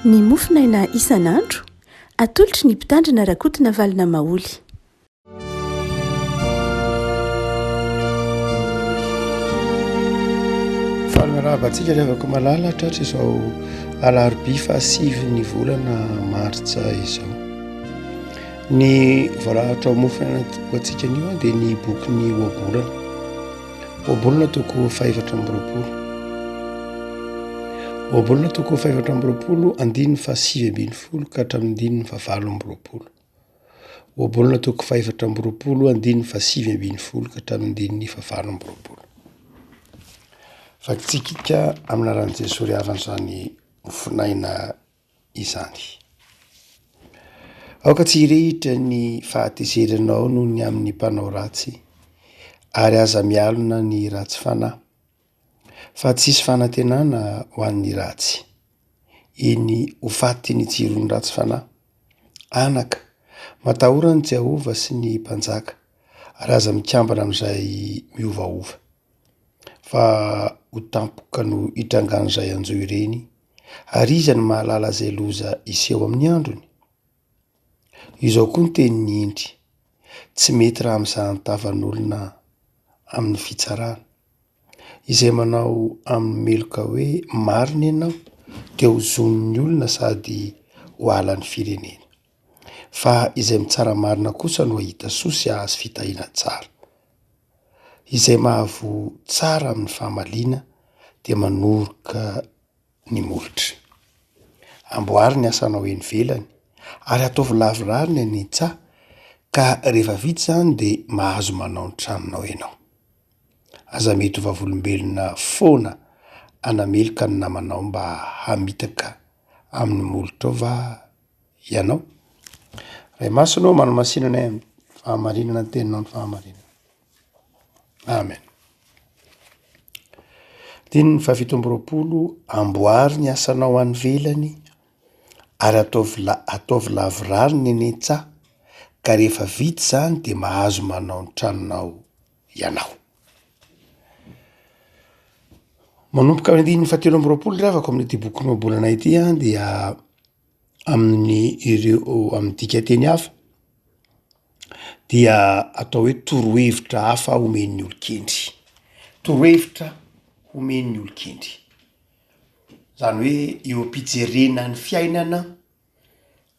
Ny mofo naina isan'andro, atolotry ny Mpitandrina Rakotonavalona Maholy. Fanarahaba antsika revako malala tratra izao alarobia fahasivy ny volana martsa izao. Ny voarahatra ao mofo naina ho antsika anio dia ny boky ny ohabolana. Ohabolana toko fahefatra amby roapolo Ohabolana toko fahefatra amby roapolo andininy fahasivy ambin'ny folo ka hatramin'ny andininy fahavalo amby roapolo Ohabolana toko fahefatra amby roapolo andininy fahasivy ambin'ny folo ka hatramin'ny andininy fahavalo amby roapolo Vakitsikika amin'ny anaran'i Jesoa ry havana izany mifinaina izany. Aoka tsy hirehitra ny fahatezeranao noho ny amin'ny mpanao ratsy, ary aza mialona ny ratsy fanahy, fa tsisy fanantenana ho an'ny ratsy. Eny, ho faty ny jiron'ny ratsy fanahy. Anaka, matahora an'i Jehovah sy ny mpanjaka, ary aza mikambana amin'izay miovaova, fa ho tampoka no itrangan'izay hanjo ireny. Ary iza no mahalala izay loza hiseho amin'ny androny? Io izao koa ny tenin'i Hendry, Tsy mety raha mizaha ny tavan'olona amin'ny fitsarana. Izay manao amin'ny meloka hoe marina ianao dia ho zon'ny olona sady ho halan'ny firenena. fa izay mitsara marina kosa no hahita soa sy hahazo fitahiana tsara. Izay mahavoa tsara amin'ny famaliana dia manoroka ny molotra. Amboary ny asanao eny ivelany ary ataovy lavorary ny an'ny tsa ka rehefa vita izany dia mahazo manao ny tranonao ianao. Aza mety ho vavolombelona foana hanameloka ny namanao mba hamitaka amin'ny molotrao va? Ianao. Ray Masina ô, manamasina anay amin'ny fahamarinana ny teninao ny fahamarinana. Amen. Dininy fahafito amby roapolo, amboary ny asanao any velany ary ataovy la- ataovy lavorary ny eny an-tsaha ka rehefa vita izany dia mahazo manao ny tranonao ianao. Manomboka amin'ny andininy fahatelo amby roapolo ry havako amin'ity bokinao Bolana ity an dia amin'ny ireo amin'ny dikanteny hafa dia atao hoe torohevitra hafa omen'ny olon-kendry, torohevitra omen'ny olon-kendry, zany hoe eo am-pijerena ny fiainana,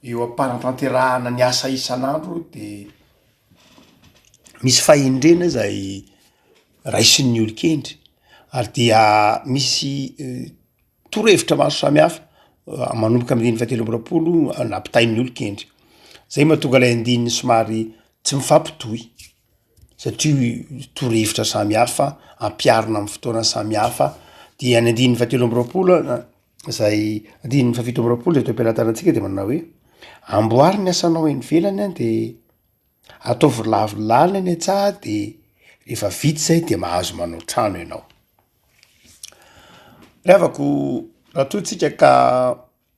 eo am-panatanterahana ny asa isan'andro de misy fahendrena zay raisin'ny olon-kendry ary dia misy. torohevitra maro samihafa manomboka amin'ny andininy fahatelo amby roapolo nampitain'ny olon-kendry, zay mahatonga ilay andininy somary tsy mifampitohy satria torohevitra samihafa ampiharina amin'ny fotoana samihafa, de any andininy fahatelo amby roapolo a zay andininy fahafito amby roapolo zay toe-pialan-tsaina antsika de manao hoe amboary ny asanao any ivelany a de. Ataovy lavorlala ny an-tsaha de rehefa vita izay de mahazo manao trano ianao. Ry havako, raha toa tsika ka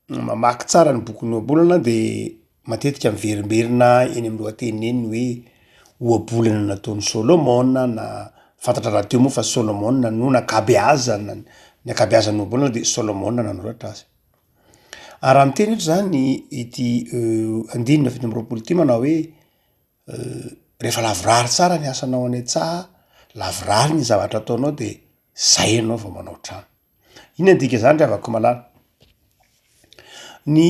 mamaky tsara ny bokin'ny ohabolana de matetika miverimberina eny amin'ny lohateniny eny ny hoe ohabolana nataon'i Solomona na fantatra rahateo moa fa Solomona no nakabeazana ny akabeazan'ny ohabolana de Solomona nanoratra azy. Ary raha miteny eto izany ity andininy fito amby roapolo ity manao hoe rehefa lavorary tsara ny asanao any an-tsaha, lavorary ny zavatra ataonao de zay ianao vao manao trano. Inona ny dikan'izany ry havako malala? Ny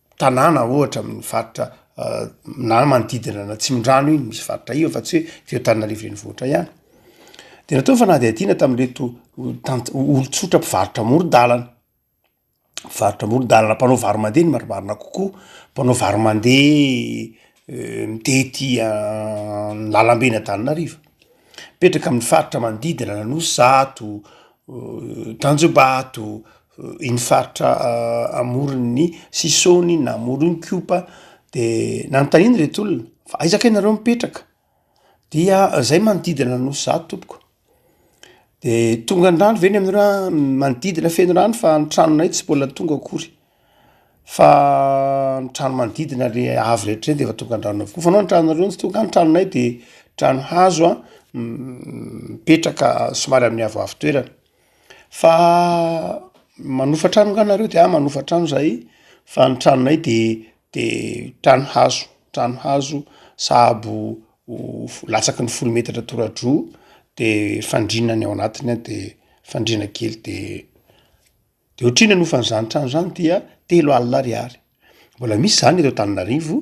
tanàna ohatra amin'ny faritra na manodidina ny Atsimondrano iny misy faritra io fa tsy hoe teo Antananarivo Renivohitra ihany. Dia natao ny fanadihadiana tamin'ireto tant- olon-tsotra mpivarotra amoron-dàlana, mpivarotra amoron-dàlana, mpanao varo mandeha no marimarina kokoa, mpanao varo mandeha mitety ny làlamben' Antananarivo, mipetraka amin'ny faritra manodidina ny Anosizato, Tanjombato, iny faritra amoron' ny Sisôny na Moronkiopa, de nanontaniana ireto olona fa aiza kay nareo mipetraka? dia zay manodidina ny nosy zah tompoko, de tonga ny rano ve ny aminareo an? manodidina feno rano fa ny tranonay tsy mbola tonga akory, fa ny trano manodidina le avo rehetra de efa tonga ny rano avokoa, fa anao ny tranonareo no tsy tonga an? ny tranonay de trano hazo an mipetraka somary amin'ny avoavo toerana. Fa manofa trano nga nareo de ah manofa trano zahay fa ny tranonay de de trano hazo trano hazo sahabo ho latsaky ny folo metatra toradroa de fandriana ny ao anatiny an de fandriana kely de de ohatry ny hanofa an'zany trano zany dia telo alina ariary mbola misy zany eto Antananarivo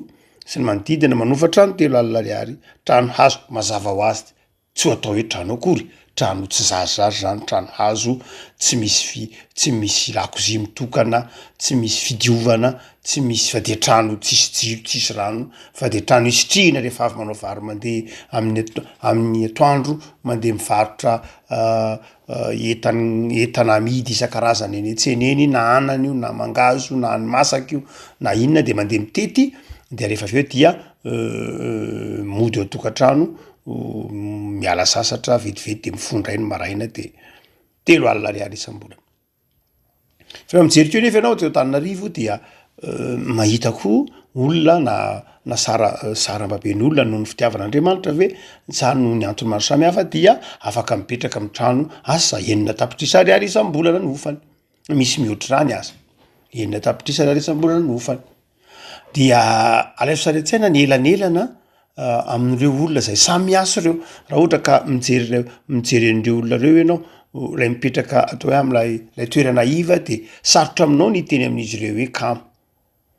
sy ny manodidina manofa trano telo alina ariary trano hazo mazava hoazy. Tsy ho atao hoe trano akory, trano tsy zarizary zany, trano hazo tsy misy vy, tsy misy lakozia mitokana, tsy misy fidiovana, tsy misy fa dia trano tsisy jiro, tsisy rano fa dia trano isitrihina rehefa avy manao vary mandeha amin'ny ato- amin'ny atoandro, mandeha mivarotra entan- entana amidy isan-karazany eny an-tsena eny na anana io na mangahazo io na hani-masaka io na inona dia mandeha mitety dia rehefa avy eo dia mody ao tokantrano miala sasatra vetivety de mifoha ndray ny maraina de telo alina ariary isam-bolana, fa raha mijery teo nefa ianao aty Antananarivo dia mahita koa olona na na sara sarambaben'olona noho ny fitiavana Andriamanitra ve sa noho ny antony maro samihafa dia afaka mipetraka amin'ny trano asa enina tapitrisa ariary isam-bolana ny hofany, misy mihoatr'izany aza, enina tapitrisa ariary isam-bolana ny hofany. Dia alaivo sary an-tsaina ny elanelana amin'ireo olona izay samy miasa ireo. Raha ohatra ka mijery ireo, mijery an'ireo olona ireo ianao, ilay mipetraka ato hoe amin'ilay ilay toerana iva dia sarotra aminao ny hiteny amin'izy ireo hoe kamo.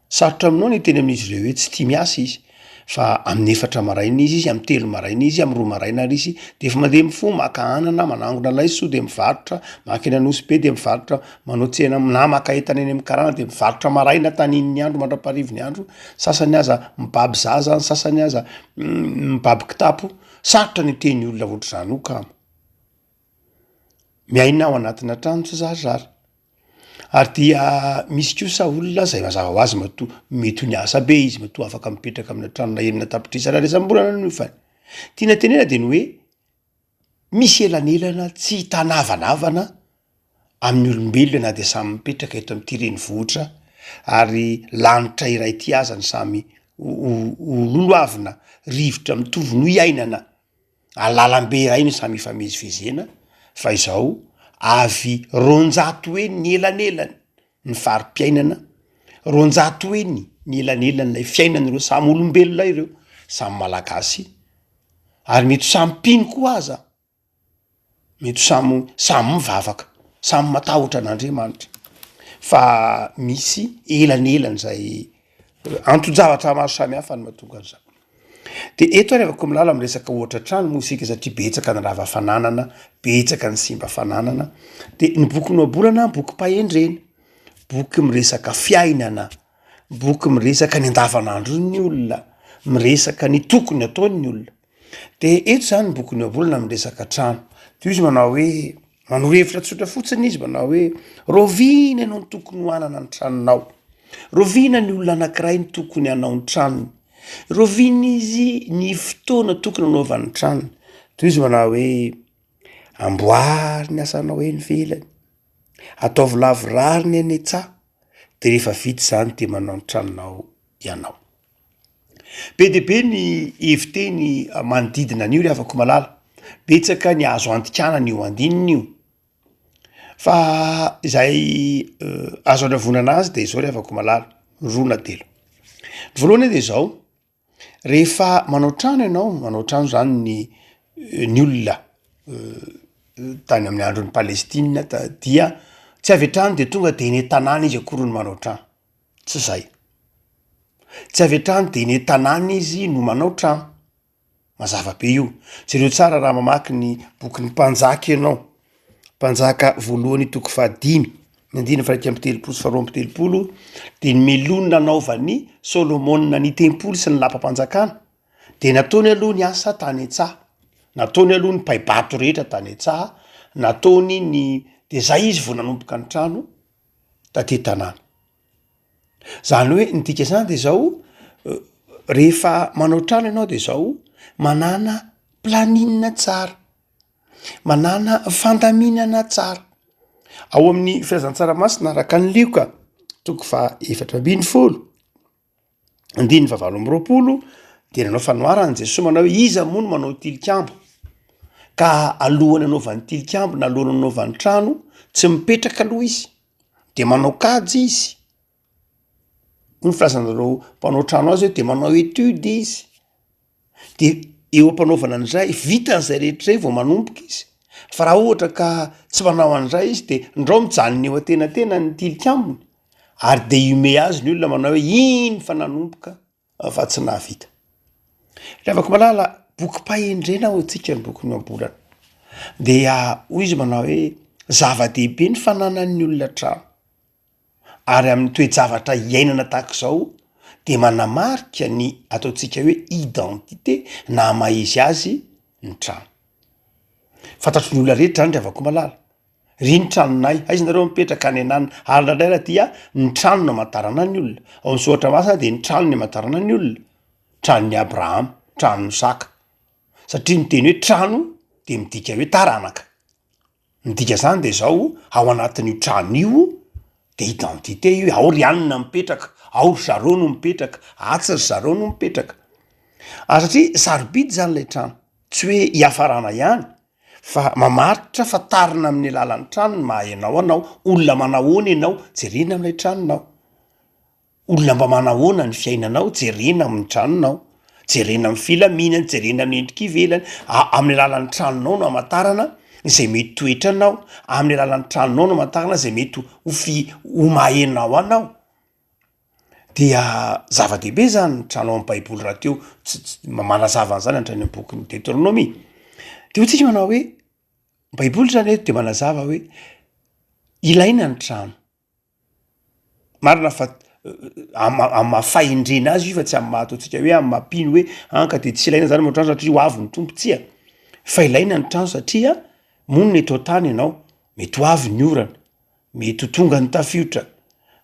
Sarotra aminao ny hiteny amin'izy ireo hoe tsy tia miasa izy. Fa amin'ny efatra maraina izy, izy amin'ny telo maraina izy, amin'ny roa maraina ary izy dia efa mandeha mifoha maka anana, manangona laiso dia mivarotra, maka eny Anosy be dia mivarotra, manao tsena na maka entana eny amin'ny karana dia mivarotra maraina tanin'ny andro mandra-parivin'ny andro, sasany aza mibaby zaza, ny sasany aza mibaby kitapo. Sarotra ny hiteny olona ohatr'izany io kamo. Miaina ao anatina trano tsy zarizary. Ary dia misy kosa olona izay mazava ho azy matoa mety ho niasa be izy, matoa afaka mipetraka amina tranona enina tapitrisa Ariary isam-bolana ny ofany. Tiana tenenana dia ny hoe, misy elanelana tsy hitana havanavana amin'ny olombelona na dia samy mipetraka eto amin'ity renivohitra ary lanitra iray ity aza ny samy ho- ho- ho lohavina rivotra mitovy no iainana. ary lalambe iray no samy ifamezivezena fa izao avy roanjato heny ny elanelany ny fari-piainana, roanjato heny ny elanelan'ilay fiainan'ireo samy olombelona ireo, samy malagasy ary mety ho samy mpino koa aza. Mety ho samy samy mivavaka, samy matahotra an'Andriamanitra fa misy elanelany zay anton-javatra maro samy hafa no mahatonga an'zany, de eto ary afaka milaza am resaka ohatra trano moa isika satria betsaka ny rava fananana, betsaka ny simba fananana, de ny boky nohabolana bokim-pahendrena, boky miresaka fiainana, boky miresaka ny andavanandron'ny olona, miresaka ny tokony ataon'ny olona. De eto zany ny bokin'i Joba olona miresaka trano, de izy manao hoe manoro hevitra tsotra fotsiny izy manao hoe rahoviana ianao no tokony ho hanana ny tranonao, rahoviana ny olona anankiray no tokony hanao ny tranony, rahoviana izy ny fotoana tokony hanaovany ny tranony, tohizo izy manao hoe amboary ny asanao eny ivelany, ataovy lavorary ny any an-tsaha de rehefa vita izany de manao ny tranonao ianao. Be dia be ny hevi-teny manodidina an'io ry havako malala, betsaka ny azo andikanana io andininy io, fa izay azo andravoana azy de zao ry havako malala, roa na telo, ny voalohany aloha de zao, rehefa manao trano ianao, manao trano zany ny ny olona tany amin'ny andron'i Palestina ta- dia tsy avy hatrany de tonga de eny an-tanàna izy akory no manao trano. Tsy zay. Tsy avy hatrany dia eny an-tanàna izy no manao trano. Mazava be io. Jereo tsara raha mamaky ny bokin'ny Mpanjaka ianao, Mpanjaka voalohany toko fahadimy ny andininy faha-iraika amby telopolo sy faharoa amby telopolo, dia ny melony nanaovan'i Solomona ny tempoly sy ny lapam-panjakana dia nataony aloha ny asa tany an-tsaha, nataony aloha ny paibato rehetra tany an-tsaha, nataony ny, dia zay izy vao nanomboka ny trano. taty tanàna. Zany hoe ny dika zany de zao rehefa manao trano ianao de zao, manana planina tsara, manana fandaminana tsara, ao amin'ny filazantsaramasina araka ny lioka toko faha efatra ambin'ny folo, Andininy fahavalo amby roapolo dia nanao fanoharana Jesoa manao hoe iza moa no manao tilikambo ka alohan'ny anaovany tilikambo na alohan'ny anaovany trano tsy mipetraka aloha izy de manao kajy izy, hoy ny filazanareo mpanao trano azy hoe de manao etude izy. de eo ampanaovana an'izay vitany zay rehetra zay vao manomboka izy fa raha ohatra ka tsy manao an'izay izy de ndrao mijanona eo an-tenantena ny tilikambony ary de ihomehy azy ny olona manao hoe iny fa nanomboka fa tsy nahavita ry havako malala bokim-pahendrena ao antsika ny bokin'ny ohabolana dia hoy izy manao hoe zava-dehibe ny fananan'ny olona trano ary amin'ny toe-javatra iainana tahaka izao dia manamarika ny ataontsika hoe identité na maha izy azy ny trano. Fantatro ny olona rehetra zany ry havakomalala, iry ny tranonay, aiza nareo mipetraka any an'any, ary indraindray ary dia ny trano no amantarana ny olona, ao amin'ny soratra masina dia ny trano no amantarana ny olona, tranon'i Abrahama, tranon'i Isaka, satria ny teny hoe trano dia midika hoe taranaka. Ny dikan'izany dia izao, ao anatin'io trano io dia identité io e, ao ry anona mipetraka, ao ry zareo no mipetraka, atsy ry zareo no mipetraka, ary satria sarobidy zany ilay trano, tsy hoe hiafarana ihany fa mamaritra fa tarina amin'ny alalan'ny trano ny maha enao anao, olona manahoana ianao, jerena amin'ilay tranonao. Olona mba manahoana ny fiainanao, jerena amin'ny tranonao, jerena amin'ny filaminany, jerena amin'ny endrika ivelany, amin'ny alalan'ny tranonao no hamantarana izay mety toetra anao, amin'ny alalan'ny tranonao no hamantarana izay mety ho fi- ho maha enao anao, dia zava-dehibe izany ny trano ao amin'ny baiboly rahateo ts- ts- manazava an'izany hatrany amin'ny bokin'ny Deoteronomia, de hoy tsika manao hoe baiboly zany eto de manazava hoe ilaina ny trano. Marina fa am- am- maha fahendrena azy io fa tsy amin'ny maha ataontsika hoe amin'ny maha mpino hoe an ka de tsy ilaina zany manao trano satria ho avy ny Tompo, tsia, fa ilaina ny trano satria monina eto an-tany ianao, mety ho avy ny orana, mety ho tonga ny tafiotra,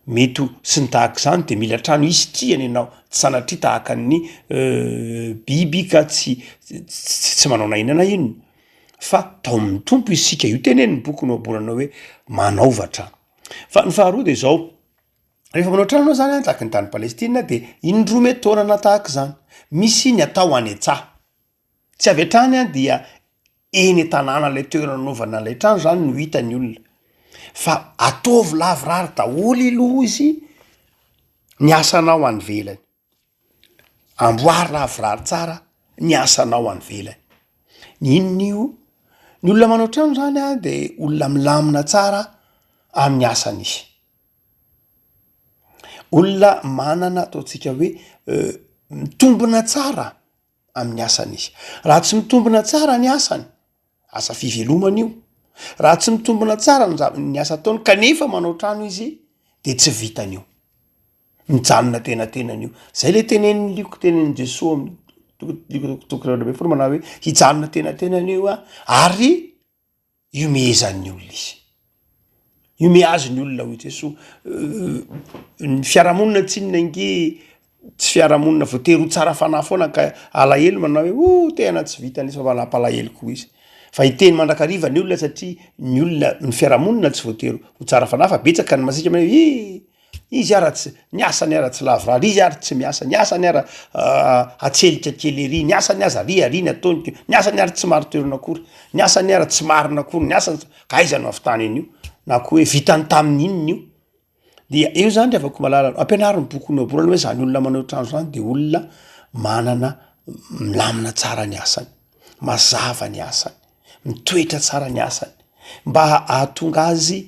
mety ho sy ny tahaka izany de mila trano hisitrihana ianao, tsy sanatria tahaka ny biby ka tsy ts- tsy manao na inona na inona fa tao amin'ny Tompo isika, io tenenin'ny boky nohaboranao hoe manaova trano. Fa ny faharoa dia izao, rehefa manao trano ianao zany an, tahaka ny tany Palestina dia indroa mety taona na tahaka izany, misy ny atao any an-tsaha, tsy avy hatrany an dia eny an-tanàna ilay toerana anaovana ilay trano zany no hita ny olona, fa ataovy lavorary daholo aloha izy ny asanao any ivelany. Amboary lavorary tsara ny asanao any ivelany. Inona io? Ny olona manao trano zany an de olona milamina tsara amin'ny asany izy, olona manana ataontsika hoe mitombina tsara amin'ny asany izy. Raha tsy mitombina tsara ny asany Asa fivelomana io. Raha tsy mitombina tsara ny zava- ny asa ataony kanefa manao trano izy dia tsy vitany io. Mijanona an-tenatenany io. Zay le tenenin'ny lioky tenenin'i Jesoa amin'ny toko dimy amby toko roa ambin'ny folo manao hoe hijanona an-tenatenany io aho ary hihomehezan'ny olona izy. Hiomehy azy ny olona hoy Jesoa. Ny fiarahamonina tsinona ange tsy fiarahamonina voatery ho tsara fanahy foana ka alahelo manao hoe oh tehana tsy vita nefa manam-palahelo koa izy. Fa hiteny mandrakariva ny olona satria ny olona, ny fiarahamonina tsy voatery ho tsara fanahy fa betsaka ny masiaka manao hoe iiih! Izy ara tsy, ny asany ara tsy lavorary, izy ary tsy miasa, ny asany ara atselika kely ery, ny asany aza ary aria ny ataony ko, ny asany ary tsy marin-toerana akory, ny asany ara tsy marina akory ny asany, ka aiza no ahavitany an'io? na koa hoe vitany tamin'ny inona io? dia eo zany ry havako malala, ampianaro ny bokin'i Ioba aloha hoe zany olona manao otrany zany de olona manana milamina tsara ny asany, mazava ny asany. Mitoetra tsara ny asany mba ahatonga azy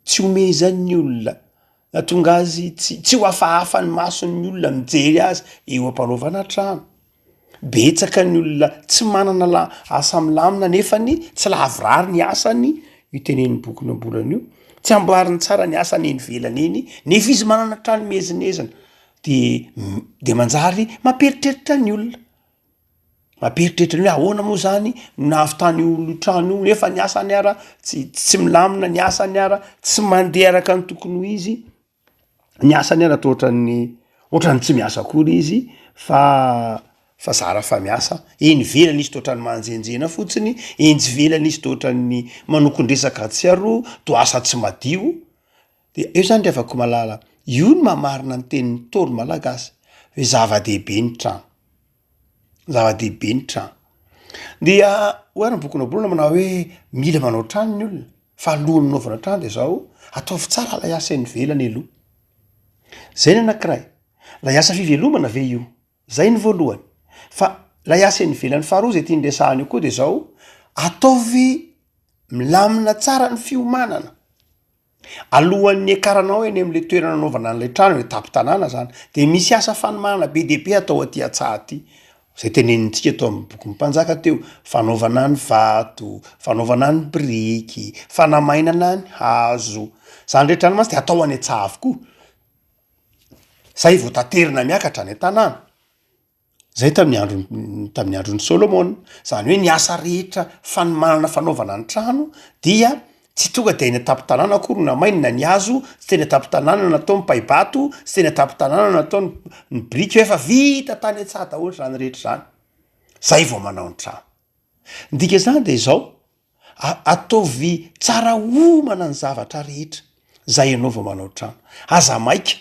tsy omezan'ny olona, ahatonga azy tsy ho hafahafa ny mason'ny olona mijery azy eo am-panaovana trano. Betsaka ny olona tsy manana la- asa milamina nefany tsy lavorary ny asany, io tenenin'ny boky Nohambolana io, tsy amboariny tsara ny asany eny ivelany eny nefa izy manana trano miezinezina de m- de manjary mampieritreritra ny olona. Mampieritreritra ny hoe ahoana moa zany no nahavitany io trano io nefa ny asany ara tsy tsy milamina, ny asany ara tsy mandeha araka ny tokony ho izy, ny asany ara toa ohatran'ny ohatran'ny tsy miasa akory izy fa fa zara fa miasa, eny ivelany izy toa ohatran'ny manjenjena fotsiny, eny ivelany izy toa ohatran'ny manokon-dresaka atsy aroa, toa asa tsy madio. Dia eo izany ry havako malala, io no maha marina ny tenin'ny Ntaolo malagasy hoe zava-dehibe ny trano, zava-dehibe ny trano. Dia hoy ary ny bokin'i Naboloana manao hoe mila manao trano ny olona fa alohan'ny hanaovana trano dia zao ataovy tsara ilay asa eny ivelany aloha. Zay ny anankiray, ilay asa fivelomana ve io? Zay ny voalohany. Fa ilay asa eny ivelany faharoa izay tiany resahana eo koa dia zao, ataovy milamina tsara ny fiomanana. Alohan'ny niakaranao eny amin'ilay toerana anaovana an'ilay trano, ilay tampon-tanàna izany, dia misy asa fanomahana be dia be atao aty an-tsaha aty. Izay tenenintsika tao amin'ny bokin'ny Mpanjaka teo, fanaovana ny vato, fanaovana ny biriky, fanamainana ny hazo. Izany rehetra izany mantsy dia atao any an-tsaha avokoa. Izay vao taterina miakatra any an-tanàna. Izay tamin'ny andro, tamin'ny andron'i Solomona. Izany hoe ny asa rehetra fanomanana fanaovana ny trano dia tsy tonga dia any an-tampon-tanàna akory no namainina ny hazo, tsy teny an-tampon-tanàna no natao ny paibato, tsy teny an-tampon-tanàna no natao ny ny biriky fa efa vita tany an-tsaha daholo izany rehetra izany, izay vao manao ny trano. Ny dikan'izany dia izao, a- ataovy tsara homana ny zavatra rehetra izay ianao vao manao trano, aza maika.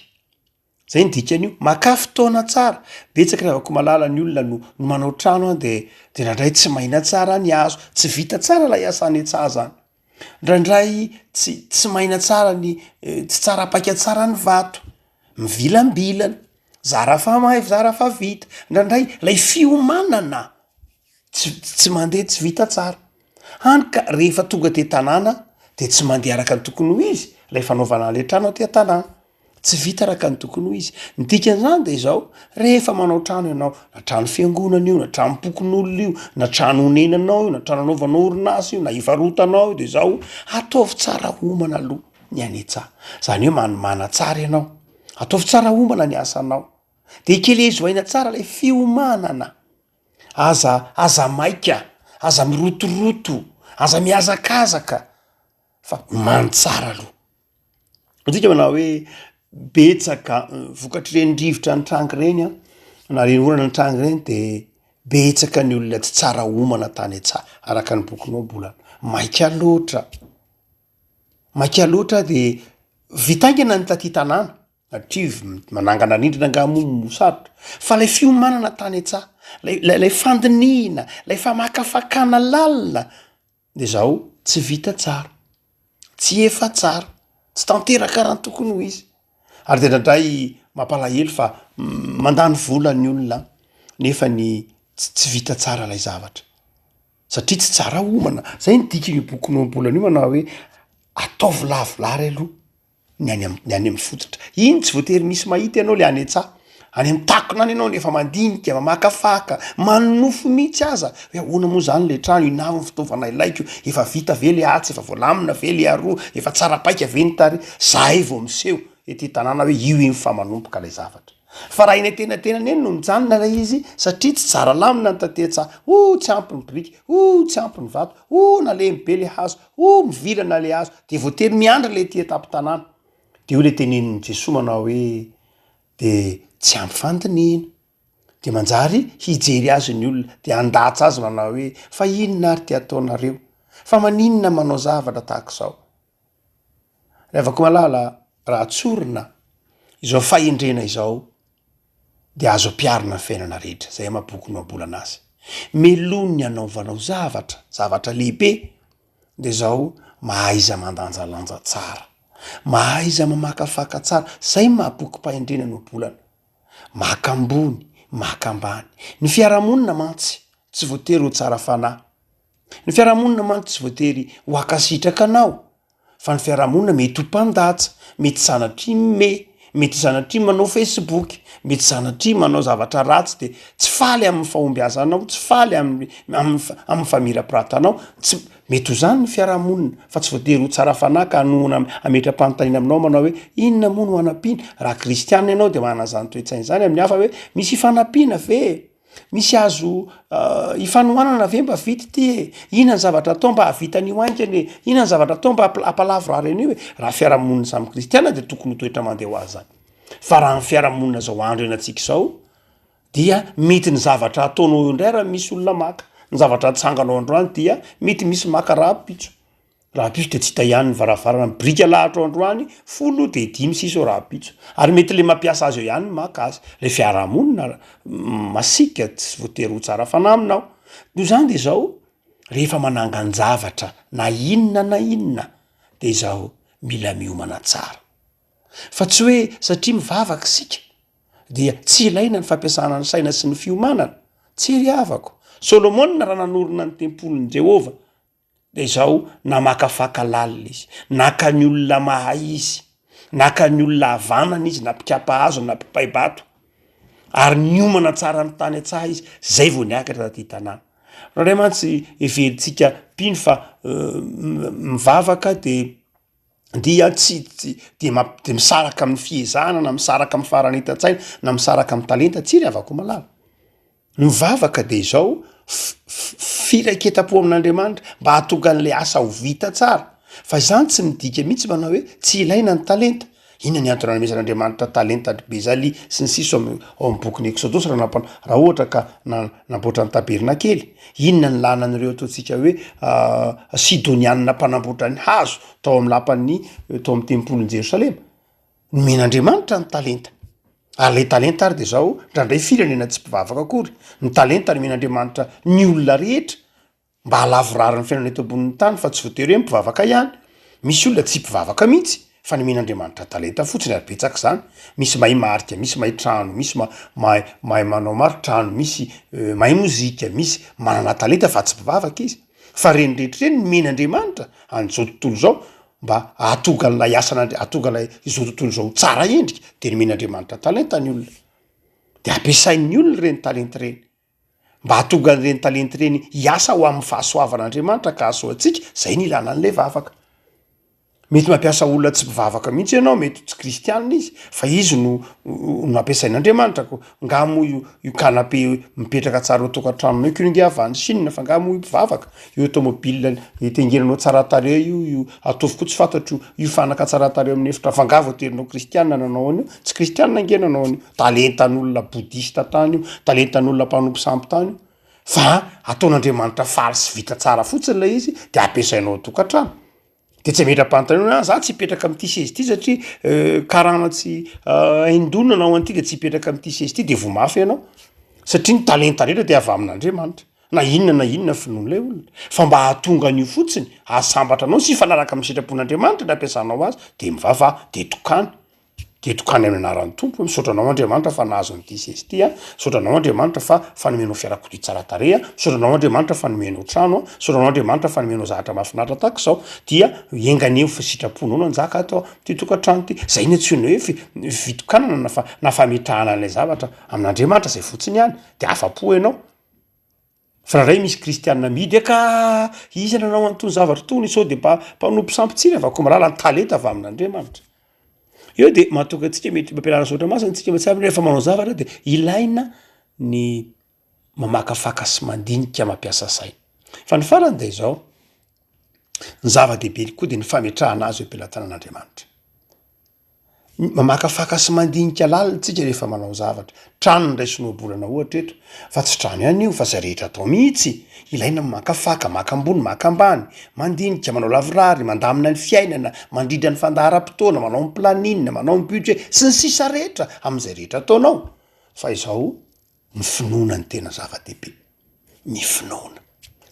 Zay ny dikan'io. Makà fotoana tsara. Betsaka ry Ravakomalala ny olona no no manao trano an dia dia ndraindray tsy maina tsara ny hazo, tsy vita tsara ilay asa anetsahazana. Ndraindray tsy tsy maina tsara ny tsy tsara paika tsara ny vato. Mivilambilana. Zara fa may zara fa vita. Ndraindray lay fiomanana. tsy mandeha tsy vita tsara hany ka rehefa tonga aty an-tanàna dia tsy mandeha araka ny tokony ho izy ilay fanaovana ilay trano aty an-tanàna, tsy vita araka ny tokony ho izy, ny dikan'izany dia izao rehefa manao trano ianao na trano fiangonana io na tranom-pokonolona io na trano onenanao io na trano anaovanao orinasa io na hivarotanao io dia izao ataovy tsara homana aloha ny any an-tsaha, izany hoe manmana tsara ianao, ataovy tsara homana ny asanao dia ekelezo aina tsara ilay fiomanana. Aza, aza maika, aza mirotoroto, aza mihazakazaka fa omano tsara aloha. Midika manao hoe betsaka vokatr'ireny rivotra nitranga ireny an, na ireny orana nitranga ireny de betsaka ny olona tsy tsara omana tany an-tsaha, araka ny bokinao mbola maika loatra, maika loatra de vita haingana ny taty tanàna. Native, manangana rindrina angaha moa no sarotra? Fa ilay fiomanana tany an-tsaha, ilay ilay ilay fandinihina, ilay famakafakana lalina dia izaho tsy vita tsara, tsy efa tsara, tsy tanteraka raha ny tokony ho izy. Ary dia indraindray mampalahelo fa mandany vola ny olona nefa ny tsy tsy vita tsara ilay zavatra satria tsy tsara homana. Izay no dikan'io bokinao am-bolana io manao hoe ataovy lavorary aloha ny any am- ny any amin'ny fototra iny tsy voatery misy mahita ianao le any an-tsaha any amin'ny takona any ianao no efa mandinika mamakafaka manonofy mihitsy aza hoe ahoana moa zany le trano inona avy ny fitaovana ilaiko efa vita ve le atsy efa voalamina ve le aroa efa tsara paika ve ny tary zahay vao miseho ety tanàna hoe io iny fa manomboka lay zavatra Fa raha eny antenantenany eny no mijanona ilay izy satria tsy tsara lamina ny tatehatsaha, oh tsy ampy ny biriky, oh tsy ampy ny vato, oh nalemy be ilay hazo, oh mivilana ilay hazo, dia voatery miandry ilay ety an-tampon-tanàna. Dia hoy ilay tenenin'i Jesoa manao hoe, dia tsy ampy fandinihina. Dia manjary hijery azy ny olona, dia handatsa azy manao hoe, fa inona ary ity ataonareo? Fa maninona manao zavatra tahaka izao? Ravakomalala raha tsorina izao fahendrena izao dia azo ampiharina ny fiainana rehetra izay ama boky nohabolana azy. Meloa ny hanaovanao zavatra, zavatra lehibe dia izao mahaiza mandanjalanja tsara, mahaiza mamakafaka tsara izay no maha bokim-pahendrena nohabolana. Maka ambony, maka ambany. Ny fiarahamonina mantsy tsy voatery ho tsara fanahy Ny fiarahamonina mantsy tsy voatery ho hankasitraka anao fa ny fiarahamonina mety ho mpandatsa, mety sanatria mihomehy, mety sanatria manao facebook, mety sanatria manao zavatra ratsy de tsy faly amin'ny fahombiazanao, tsy faly amin'ny amin'ny fa- amin'ny famirapiratanao, tsy mety ho zany ny fiarahamonina fa tsy voatery ho tsara fanahy ka hanohana am- hametra-panontaniana aminao manao hoe inona moa no anampiana? Raha kristianina ianao de manana zany toe-tsaina zany amin'ny hafa hoe misy ifanampiana ve e? Misy azo ifanohanana ve mba vita ity e? Inona ny zavatra atao mba hahavita an'io haingana e? Inona ny zavatra atao mba hampalavo raha an'io e? Raha fiarahamonina samy kristiana dia tokony ho toetra mandeha ho azy zany. Fa raha ny fiarahamonina izao andro ianantsika izao dia mety ny zavatra ataonao eo indray raha misy olona maka, ny zavatra atsanganao androany dia mety misy maka rahampitso. Rahampitso dia tsy hita ihany ny varavarana ny biriky alahatro androany folo dia dimy sisa eo rahampitso ary mety ilay mampiasa azy eo ihany no maka azy ilay fiarahamonina masiaka tsy voatery ho tsara fanahy aminao noho izany dia izao rehefa manangan-javatra na inona na inona dia izao mila miomana tsara fa tsy hoe satria mivavaka isika dia tsy ilaina ny fampiasana ny saina sy ny fiomanana tsy ry havako solomona raha nanorina ny tempolin'i jehovah Dia izao namakafaka lalina izy, naka ny olona mahay izy, naka ny olona havanana izy na mpikapa hazo na mpipay-bato ary niomana tsara ny tany an-tsaha izy izay vao niakatra taty tanàna. Fa indray mantsy heverintsika mpino fa mivavaka dia dia tsy tsy dia mamp- dia misaraka amin'ny fihezahana na misaraka amin'ny faharanitan-tsaina na misaraka amin'ny talenta, tsy ry havako malala. Mivavaka dia izao, Firaiketam-po amin'Andriamanitra mba hahatonga an'ilay asa ho vita tsara. Fa izany tsy midika mihitsy manao hoe tsy ilaina ny talenta. Inona ny antony nanomezan'Andriamanitra talenta an-dry Bezalya sy ny sisa ao amin'ny bokin'ny Eksodos raha nampa- raha ohatra ka na- namboatra ny tabernakely? Inona ny làlan'ireo ataontsika hoe Sidonianina mpanamboatra ny hazo tao amin'ny lapan'ny tao amin'ny tempolin'i Jerosalema? Nomen'Andriamanitra ny talenta. Ary ilay talenta ary dia izao, ndraindray firenena tsy mpivavaka akory, ny talenta nomen'Andriamanitra ny olona rehetra mba halavorary ny fiainana eto ambonin'ny tany fa tsy voatery hoe mpivavaka ihany. Misy olona tsy mpivavaka mihitsy fa nomen'Andriamanitra talenta fotsiny ary betsaka izany. Misy mahay marika, misy mahay trano, misy ma- mahay mahay manao maritrano, misy mahay mozika, misy manana talenta fa tsy mpivavaka izy. Fa ireny rehetra ireny nomen'Andriamanitra an'izao tontolo izao mba hahatonga an'ilay asan'Andria- hahatonga ilay izao tontolo izao ho tsara endrika de nomen'Andriamanitra talenta ny olona, de ampiasain'ny olona ireny talenta ireny mba hahatonga an'ireny talenta ireny hiasa ho amin'ny fahasoavan'Andriamanitra ka hahasoantsika, zay ny ilana an'ilay vavaka, mety mampiasa olona tsy mpivavaka mihitsy ianao mety tsy kristianina izy fa izy no no ampiasain'Andriamanitra ko Nga moa io io canapé mipetraka tsara eo an-tokantranonao io kely nge avy any Chine fa nga moa io mpivavaka? Io automobile itengenanao tsara tarehy io, io ataovy koa tsy fantatro, io fanaka tsara tarehy eo amin'ny efitra fa nga vao terinao kristiana nanao an'io? Tsy kristiana nge nanao an'io, talentan'olona bodista tany io, talentan'olona mpanompo sampy tany io, fa ataon'Andriamanitra faly sy vita tsara fotsiny ilay izy de ampiasainao ao an-tokantrano. de tsy ametram-panotanana za tsy hipetraka am'ty seza ty satria karana tsy haindona anao an'ity de tsy hipetraka am'ty seza ty de voa mafy ianao satria ny talenta rehetra de avy amin'Andriamanitra na inona na inona finoan'ilay olona fa mba hahatonga an'io fotsiny hahasambatra anao sy hifanaraka amin'ny sitrapon'Andriamanitra ny ampiasanao azy de mivavaha de tokana Tetoka any amin'ny anaran'ny Tompo, misaotra anao Andriamanitra fa nahazo an'ity seza ity aho, misaotra anao Andriamanitra fa fa nomenao fiarakodia tsara tarehy aho, misaotra anao Andriamanitra fa nomenao trano aho, misaotra anao Andriamanitra fa nomenao zavatra mahafinaritra tahaka izao, dia enga anie ho fa sitraponao no hanjaka ato amin'ity tokantrano ity, zay no antsoina hoe fi- fitokanana na fa- na fametrahana an'ilay zavatra amin'Andriamanitra zay fotsiny ihany, de afa-po ianao. Fa raha indray misy kristianina amidy ka iza nanao an'itony zavatra itony? Sao dia mba mpanompo sampy tsy revako mirahalahy ny talenta avy amin'Andriamanitra? Eo dia mahatonga antsika mety mba ampianarina soratra masina isika mba tsy hahavina hoe rehefa manao zavatra dia ilaina ny mamakafaka sy mandinika mampiasa saina. Fa ny farany dia izao, ny zava-dehibe koa dia ny fametrahana azy eo am-pelatanan'Andriamanitra. Mamakafaka sy mandinika lalina tsika rehefa manao zavatra. Trano no raisin'ny ohabolana ohatra eto, fa tsy trano ihany io fa zay rehetra atao mihitsy. Ilaina ny makafaka, maka ambony, maka ambany, mandinika, manao lavorary, mandamina ny fiainana, mandrindra ny fandaharam-potoana, manao ny planning, manao ny budget sy ny sisa rehetra, amin'izay rehetra ataonao. Fa izao Ny finoana no tena zava-dehibe, ny finoana,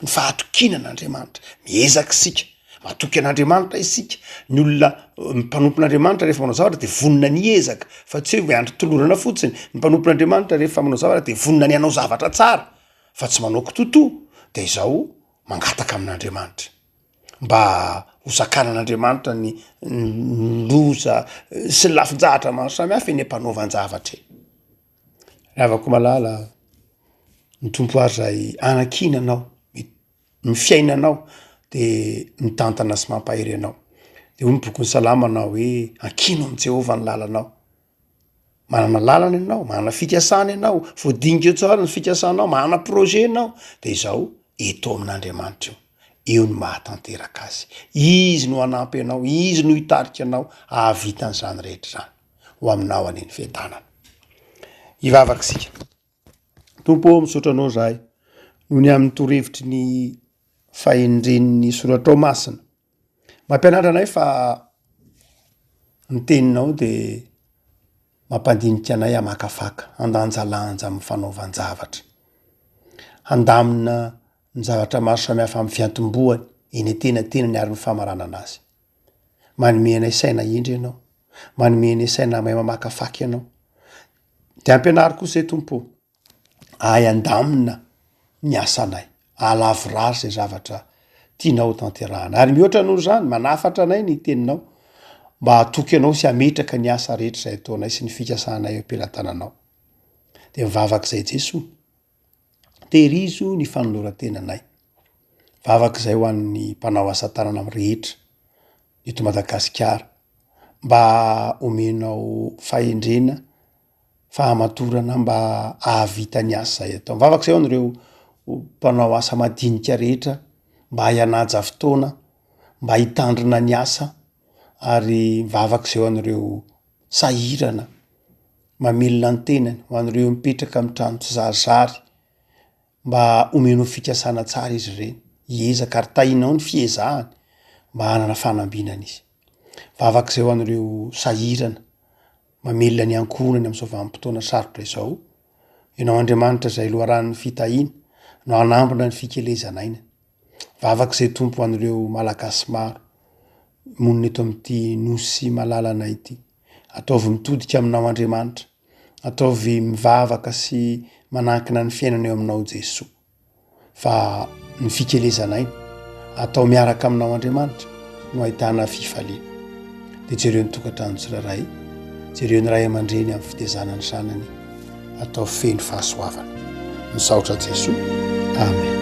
ny fahatokiana an'Andriamanitra. Miezaka isika, matoky an'Andriamanitra isika. Ny olona mpanompo an'Andriamanitra rehefa manao zavatra dia vonona ny hiezaka fa tsy hoe miandry tolorana fotsiny. Ny mpanompo an'Andriamanitra rehefa manao zavatra dia vonona ny hanao zavatra tsara fa tsy manao kitoatoa, dia izaho mangataka amin'Andriamanitra mba ho zakana an'Andriamanitra ny loza sy ny lafin-jahatra maro samihafa eny am-panaovan-javatra eny. Ravako malala a, ny Tompo ary zay anakiana anao, ny fiainanao de mitantana sy mampahery anao. De hoy ny bokin'ny salama anao hoe ankino amin'i Jehovah ny lalanao, manana lalana ianao, manana fikasana ianao, voadingo tsara ny fikasanao, manana projet ianao de izao eto amin'Andriamanitra io, io no mahatanteraka azy, izy no hanampy anao, izy no hitarika anao hahavita an'zany rehetra zany. ho aminao any ny fiadanana. Hivavaka isika. Tompo ô, misaotra anao zahay noho ny amin'ny torevitry ny fahendren'ny soratrao masina. Mampianatra anay fa ny teninao de mampandinika anay hamakafaka, handanjalanja amin'ny fanaovan-javatra. Handamina ny zavatra maro samihafa amin'ny fiantombohany eny an-tenatenany ary ny famaranana azy. Manome anay saina hendry Ianao. Manome anay saina mahay mamakafaka Ianao. Dia ampianaro kosa e Tompo ô, ahay handamina ny asanay, ahalavorary izay zavatra tianao hotanterahana. Ary mihoatra noho izany, manafatra anay ny Teninao mba hatoky Anao sy hametraka ny asa rehetra izay ataonay sy ny fikasanay eo am-pelatananao. Dia mivavaka izay Jesoa. Tehirizo ny fanoloran-tenanay. Vavaka izay ho an'ny mpanao asa tanana rehetra eto Madagasikara mba homenao fahendrena, fahamatorana mba hahavita ny asa izay atao. Vavaka izay ho an'ireo mpanao asa madinika rehetra mba hay hanaja fotoana, mba hitandrina ny asa ary vavaka izay ho an'ireo sahirana. mamelona ny tenany ho an'ireo mipetraka amin'ny trano tsizarizary mba homenao fikasana tsara izy ireny. Hiezaka ary tahinao ny fiezahany mba hanana fanambinana izy. Vavak'izay ho an'ireo sahirana, mamelona ny ankohonany amin'izao vanim-potoana sarotra izao. Ianao Andriamanitra izay loharanon'ny fitahiana no hanambina ny fikelezan'aina. Vavak'izay Tompo ho an'ireo Malagasy maro monina eto amin'ity Nosy malalana ity. Ataovy mitodika aminao Andriamanitra. Ataovy mivavaka sy manankina ny fiainana eo aminao Jesoa. Fa ny fikelezanay atao miaraka aminao Andriamanitra no ahitana fifaliana. Dia jereo ny tokantrano tsirairay. Jereo ny ray aman-dreny amin'ny fitezana ny zanany. atao feno fahasoavana. Misaotra Jesoa. Amen.